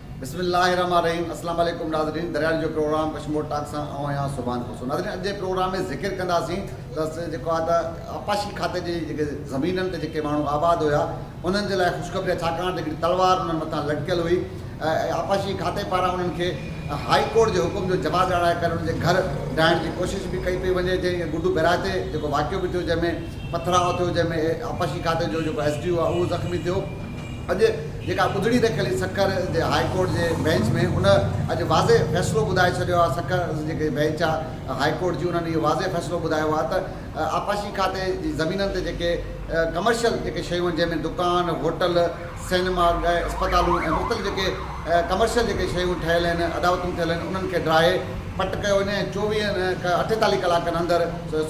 بسم الله الرحمٰن الرحيم اسلام عليڪم ناظرين درياڙي جو پروگرام ڪشمور ٽاڪ سان آئون آهيان سبحان خوسرو ناظرين اڄ جي پروگرام ۾ ذڪر ڪنداسين ته جيڪو آهي ته آبپاشي کاتي جي جيڪي زمينن تي جيڪي ماڻهو آباد هيا انهن جي لاء خوشخبري ڇاڪاڻ ته هڪڙي تلوار انهن مٿان لٽڪيل هئي ۽ آبپاشي کاتي پاران انهن کي هائي ڪورٽ جي حڪم جو جواز ڏيارائي ڪري انهن جي گهر ڊاهڻ جي ڪوشش به ڪئي پئي وڃي جنهن ۾ گڊو بيراج تي جيڪو واقعو به ٿيو جنهن ۾ پٿراء ٿيو جنهن ۾ آبپاشي کاتي جو جيڪو ايس ڊي او آهي اهو زخمي ٿيو اڄ جيڪا ٻڌڻي رکيل هئي سکر جي هاء ڪورٽ جي بئنچ ۾ ان اڄ واضع فيصلو ٻڌائي ڇڏيو آهي سکر جيڪي بئنچ آهي هاء ڪورٽ جي انهن اهو واضع فيصلو ٻڌايو آهي ته آبپاشي کاتي جي زمينن تي جيڪي ڪمرشل جيڪي شيون آهن جنهن ۾ دڪان هوٽل سينما گهه اسپتالون ۽ مختلف جيڪي ڪمرشل جيڪي شيون ٺهيل آهن اڏاوتون ٿيل آهن انهن کي ڊاهي پٽ ڪيو وڃي ۽ چوويهن اٺيتاليهه ڪلاڪن اندر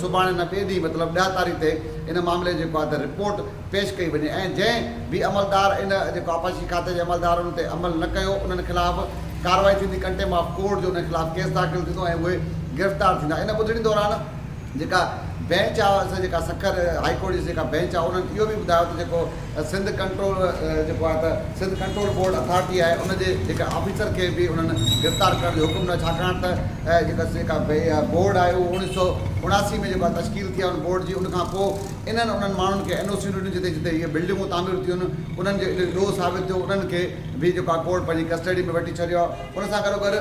سڀاڻي نه ٻئي ڏينهن مطلب ڏهه تاريخ تي ان معاملي جيڪو آهي ته رپورٽ پيش ڪئي وڃي ۽ جنهن به عملدار ان جيڪو آبپاشي کاتي جي عملدار ان تي عمل نه ڪيو انهن خلاف ڪارروائي ٿيندي ڪنٽيم آف ڪورٽ جو انهن خلاف ڪيس داخل ٿيندو ۽ اهي گرفتار ٿيندا ان ٻڌڻي دوران جيڪا بينچ آ سي جيڪا سکر هائي ڪورٽ جي جيڪا بينچ آ انهن اهو به ٻڌايو ته جيڪو سنڌ ڪنٽرول جيڪو آ ته سنڌ ڪنٽرول بورڊ اٿارٽي آهي ان جي جيڪا آفيسر کي به انهن گرفتار ڪرڻ جو حڪم نه ڇاڪاڻ ته جيڪا سي جيڪا بورڊ آهي اهو اوڻيهه سؤ اڻاسي ۾ جيڪو آ تشڪيل ٿي آ ان بورڊ جي ان کان پو انهن انهن ماڻهن کي اين او سيون ڏنيون جتي جتي اهي بلڊنگون تعمير ٿيون انهن جو علم ڏوهه ثابت ٿيو انهن کي به جيڪو آهي ڪورٽ پنهنجي ڪسٽڊي ۾ وٺي ڇڏيو آهي ان سان گڏوگڏ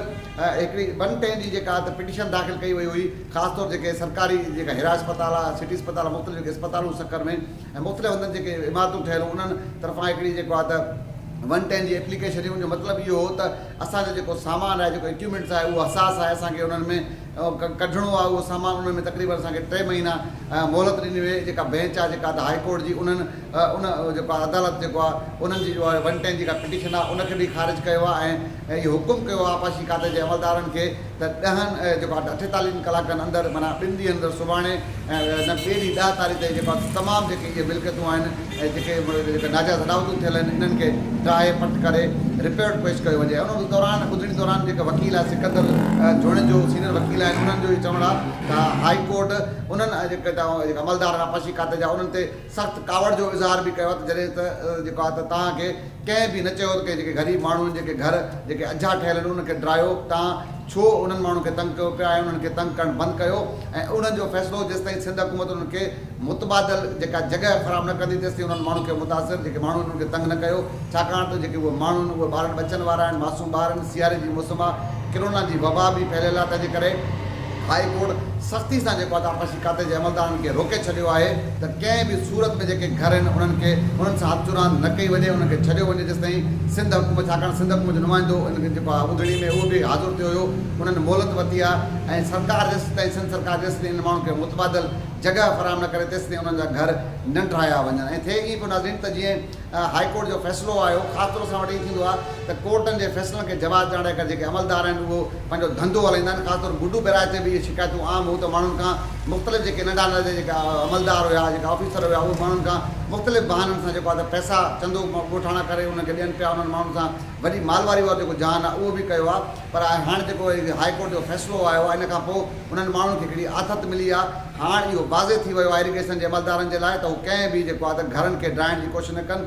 هڪڙي ون ٽين جي جيڪا ته پٽيشن داخل ڪئي وئي هئي خاص طور جيڪي سرڪاري جيڪا هيرا اسپتال آهي سٽي اسپتال آهي مختلف جيڪي اسپتالون سکر ۾ ۽ مختلف هنڌن جيڪي عمارتون ٺهيل هيون انهن طرفان هڪڙي جيڪو آهي ته ون ٽين جي اپليڪيشن هئي ان جو مطلب اهو هو ته اسان جو جيڪو سامان آهي جيڪو اڪيومينٽس آهي اهو حساس آهي اسان کي انهن ۾ ڪڍڻو آهي اهو سامان ان ۾ تقريبن اسان کي ٽي مهينا مهلت ڏني وئي جيڪا بينچ آهي جيڪا ادا هائي ڪورٽ جي انهن ان جيڪو آهي عدالت جيڪو آهي انهن جي جو آهي ون ٽين جيڪا پٽيشن آهي ان کي به خارج ڪيو آهي ۽ اهو حڪم ڪيو آهي آبپاشي کاتي جي عملدارن کي ته ڏهن جيڪو آهي اٺيتاليهن ڪلاڪن اندر معنيٰ ٻن ڏينهن اندر سڀاڻي ۽ نه ٻئي ڏينهن ڏهه تاريخ تائين جيڪو آهي تمام جيڪي اهي ملڪيتون آهن ۽ جيڪي جيڪي ناجائز اڏاوتون ٿيل آهن انهن کي ٽاهي پٽ ڪري رپورٽ پيش ڪيو وڃي ان دوران ٻڌڻي دوران جيڪي وڪيل آهي سڪندر جوڻيجو سينئر وڪيل آهن انهن جو اهو چوڻ آهي ته هاء ڪورٽ انهن جيڪي جيڪي عملدار آبپاشي کاتي جا انهن تي سخت ڪاوڙ جو اظهار به ڪيو آهي ته جڏهن ته جيڪو آهي ته توهان کي ڪنهن به نه چيو ته ڪنهن جيڪي غريب ماڻهن جيڪي گهر جيڪي اجها ٺهيل آهن انهن کي ڊرايو توهان ڇو انهن ماڻهن کي تنگ ڪيو پيا ۽ انهن کي تنگ ڪرڻ بند ڪيو ۽ انهن جو فيصلو جيستائين سنڌ حڪومت انهن کي متبادل جيڪا جڳهه فراهم نه ڪندي تيستائين انهن ماڻهن کي متاثر جيڪي ماڻهن انهن کي تنگ نه ڪيو ڇاڪاڻ ته جيڪي اهي ماڻهو آهن اهي ٻارن ٻچن وارا آهن معصوم ٻار آهن سياري جي موسم آهي ڪرونا جي وبا به ڦهليل آهي تنهنجي ڪري هائي ڪورٽ سختي سان جيڪو آهي ته آبپاشي کاتي جي عملدارن کي روڪي ڇڏيو آهي ته ڪنهن به صورت ۾ جيڪي گهر آهن انهن کي انهن سان هٿ چراند نه ڪئي وڃي انهن کي ڇڏيو وڃي جيستائين سنڌ حڪومت ڇاڪاڻ سنڌ حڪومت جو نمائندو ان جيڪو آهي ٻڌڻي ۾ اهو به حاضر ٿيو هيو انهن مهلت ورتي آهي ۽ سرڪار جيستائين سنڌ سرڪار جيستائين انهن ماڻهن کي متبادل جڳهه فراهم نه ڪري تيستائين انهن جا گهر ننڊرايا وڃن ۽ ٿئي ائين پيو ناظرين ته جيئن هائي ڪورٽ جو فيصلو آيو خاص طور اسان وٽ ائين ٿيندو آهي ته ڪورٽن جي فيصلن کي جواز ڏيڻ لاء جيڪي عملدار آهن اهو پنهنجو ڌنڌو هلائيندا آهن خاص طور گڊو بهراج تي به اهي شڪايتون عام هو ته ماڻهن کان مختلف جيڪي ننڍا ننڍا جي جيڪا عملدار هيا جيڪا آفيسر هيا اهي ماڻهن کان مختلف بهانن سان جيڪو آهي ته پئسا چندو ڳوٺاڻا ڪري انهن کي ڏين پيا انهن ماڻهن سان وڏي مالواري وارو جيڪو جهان آهي اهو به ڪيو آهي پر آء هاڻ جيڪو هي هاء ڪورٽ جو فيصلو آيو آهي ان کانپوء انهن ماڻهن کي هڪڙي آٿت ملي آهي هاڻ اهو واضح ٿي ويو آهي ايريگيشن جي عملدارن جي لاء ته هو ڪنهن به جيڪو آهي ته گهرن کي ڊاهڻ جي ڪوشش نه ڪن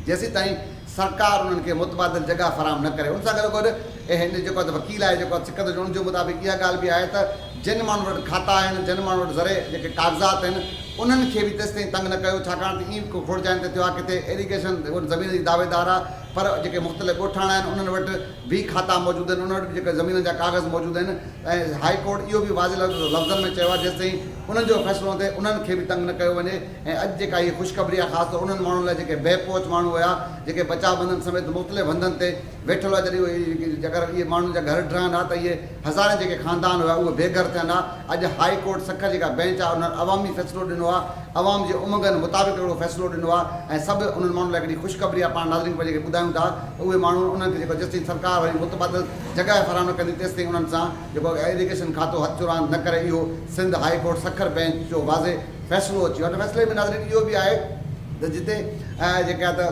جيسيتائين سرڪار انهن کي متبادل جڳهه فراهم نه ڪري ان سان گڏو گڏ اهي ان جيڪو آهي ته وڪيل آهي جيڪو آهي سڪندر جي ان جي مطابق اها ڳالهه به آهي ته جن ماڻهن وٽ کاتا آهن جن ماڻهن وٽ زرعي جيڪي ڪاغذات آهن انهن کي به تيستائين تنگ نه ڪيو ڇاڪاڻ ته ائين به ڪو کوڙ جاين تي ٿيو آهي ڪٿي ايريگيشن ان زمين جي دعويدار آهي پر جيڪي مختلف ڳوٺاڻا آهن انهن وٽ به کاتا موجود آهن، انهن وٽ به جيڪي زمينن جا ڪاغذ موجود آهن ۽ هاء ڪورٽ اهو به واضح لفظن ۾ چيو آهي جيستائين انهن جو فيصلو نه ٿئي انهن کي به تنگ نه ڪيو وڃي ۽ اڄ جيڪا هيء خوشخبري آهي خاص طور انهن ماڻهن لاء جيڪي بي پهچ ماڻهو هيا جيڪي بچاء بندن سميت مختلف هنڌن تي ويٺل هئا جڏهن اهي اگر اهي ماڻهن جا گهر ڊهن ها ته اهي هزارين جيڪي خاندان هيا اهي بي گهر ٿين ها اڄ هاء ڪورٽ سکر جيڪا بينچ آهي انهن عوامي فيصلو ڏنو آهي عوام جي امنگن مطابق اهڙو فيصلو ڏنو آهي ۽ سڀ انهن ماڻهن لاء هڪڙي خوشخبري آهي پاڻ ناظرين کي جيڪي ٻڌايون ٿا ته اهي ماڻهو انهن کي جيڪو جيستائين سرڪار وري متبادل جڳهه فراهم نه ڪندي تيستائين انهن سان جيڪو ايريگيشن کاتو هٿ جو راند نه ڪري اهو Sindh high court Sukkur bench جو واضح فيصلو اچي ويو آهي ان فيصلي ۾ ناظرين اهو به آهي ته جتي جيڪي آهي ته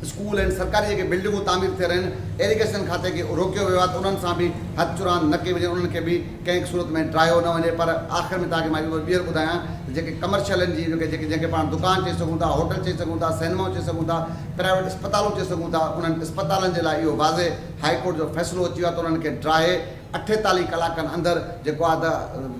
اسڪول ۽ سرڪاري جيڪي بلڊنگون تعمير ٿي رهيون آهن ايريگيشن کاتي کي روڪيو ويو آهي ته انهن سان به هٿ جو راند نه ڪئي وڃي انهن کي به ڪنهن به صورت ۾ ڊرايو نه وڃي پر آخر ۾ توهانکي مان اهو ٻيهر ٻڌايان ته جيڪي ڪمرشل آهن جيئن جيڪي جنهن کي پاڻ دڪان چئي سگهون ٿا هوٽل چئي سگهون ٿا سينمائون چئي سگهون ٿا پرائيويٽ اسپتالون چئي سگهون ٿا انهن اسپتالن جي لاء اهو واضح هائي ڪورٽ جو فيصلو اچي ويو آهي ته انهن کي ڊراهي اٺيتاليهه ڪلاڪن اندر جيڪو آهي ته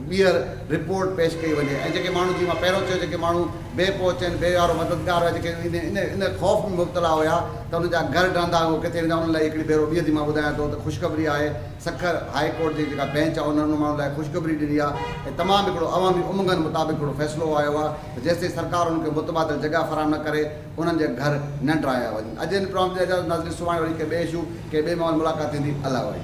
ٻيهر رپورٽ پيش ڪئي وڃي ۽ جيڪي ماڻهو جيئن مان پهريون چيو جيڪي ماڻهو بي پهچ آهن بي وارو مددگار هئا جيڪي ان ان خوف ۾ مبتلا هيا ته انهن جا گهر ڊهندا اهو ڪٿي ويندا انهن لاء هڪڙي ڀيرو ٻيهر ٿي مان ٻڌايان ٿو ته خوشخبري آهي سکر هاء ڪورٽ جي جيڪا بينچ آهي ان انهن ماڻهن لاء خوشخبري ڏني آهي ۽ تمام هڪڙو عوامي امنگن مطابق هڪڙو فيصلو آيو آهي ته جيستائين سرڪار انهن کي متبادل جڳهه فراهم نه ڪري انهن جي گهر نه ڊهايا وڃن اڄ هن پروگرام جي اجازت ناظرين سڀاڻي وري ڪنهن ٻئي اشو ڪنهن ٻئي ماحول ملاقات ٿيندي الله واري.